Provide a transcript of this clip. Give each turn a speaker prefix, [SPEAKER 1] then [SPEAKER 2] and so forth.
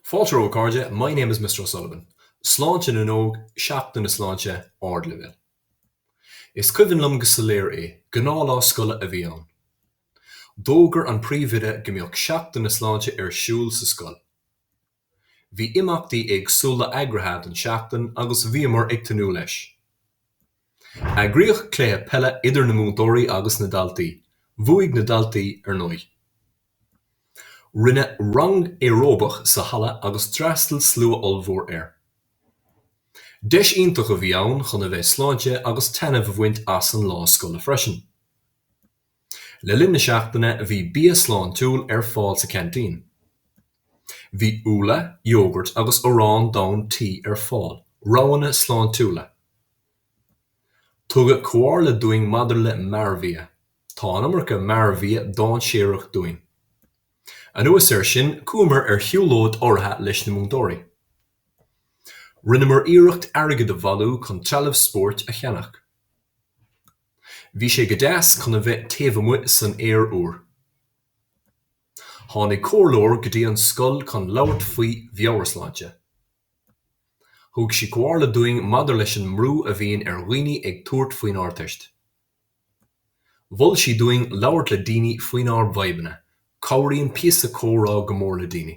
[SPEAKER 1] Fáilte a chairde, my name is Mr. O'Sullivan. Sláinte na nÓg, Seachtain na Sláinte, Ardleibhéal. Is cuimhin liom go soiléir é, gnáthlá scoile a bhí ann. D'fhógair an príomhoide go mbeadh Seachtain na Sláinte ar siúl sa scoil. Bhí imeachtaí éagsúla eagraithe don tseachtain agus bhíomar ag tnúth leis. Eagraíodh cluiche peile idir na múinteoirí agus na daltaí. Bhuaigh na daltaí, ar ndóigh. Rinne rang aeróbach sa halla agus d'fhreastail slua ollmhór air. Deis iontach a bhí ann chun a bheith sláinte agus taitneamh a bhaint as an lá scoile freisin. Le linn na seachtaine bhí bia sláintiúil ar fáil sa cheaintín. Bhí úlla, iógairt agus arán donn ar fáil, roghanna sláintiúla. Tugadh comhairle dúinn maidir le mearbhia. Tá an iomarca mearbhia dáinséarach dúinn. Anuas air sin, chuamar ar shiúlóid urraithe leis na múinteoirí. Rinneamar iarracht airgead a bhailiú chun trealamh spóirt a cheannach. Bhí sé go deas chun a bheith taobh amuigh san aer úr. Tháinig comhairleoir go dtí an scoil chun labhairt faoi mheabhairshláinte. Thug sí comhairle dúinn maidir leis an mbrú a bhíonn ar dhaoine ag tabhairt faoin Ardteist. Mhol sí dúinn labhairt le daoine faoinár bhfadhbanna, cabhraíonn píosa comhrá go mór le daoine.